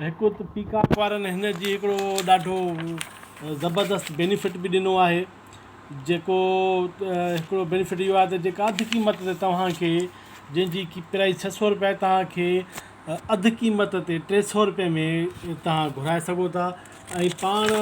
هڪ ته پيڪاڪ وارن هن جي هڪڙو ڏاڍو زبردست بينيفٽ به ڏنو آهي جيڪو هڪڙو بينيفٽ اهو آهي ته جيڪا اڌ قيمت تي توهان کي جنهن جي ڪي پرائز ڇهه سو روپيا آهي توهان کي اڌ قيمت تي ٽي سو روپئي ۾ توهان گهرائي سگهو ٿا ۽ پاڻ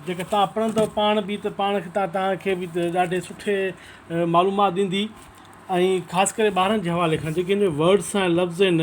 جيڪا توهان پڙهندو پاڻ بي ته پاڻ کي تان توهان کي بي ڏاڍي سٺي معلومات ڏيندي ۽ خاص ڪري ٻارن جي حوالي کان جيڪي هن ۾ ورڊس ۽ لفظ آهن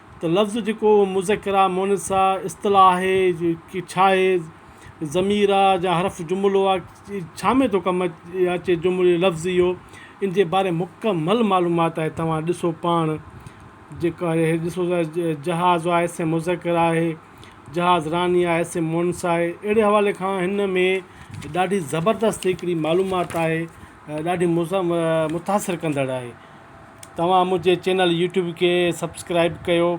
ته لفظ جيڪو مذڪر آ مؤنث آ اصطلاح آهي ڪي ڇاهي ضمير آ جا حرف جملو آ ڇا ۾ ٿو ڪم اچي جملو لفظ اهو ان جي باري مڪمل معلومات آهي توهان ڏسو پاڻ جيڪو آهي هي ڏسو ته جهاز آ اسم مذڪر آهي جهاز راني آ اسم مؤنث آهي اهڙي حوالي کان هن ۾ ڏاڍي زبردست هڪڙي معلومات آهي ڏاڍي متاثر ڪندڙ آهي توهان منهنجي چينل يوٽيوب کي سبسڪرائب ڪيو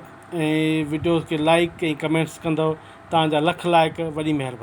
۽ وڊيوز کي لائڪ ۽ ڪمينٽس ڪندو توهان جا لک لائق وڏي مهرباني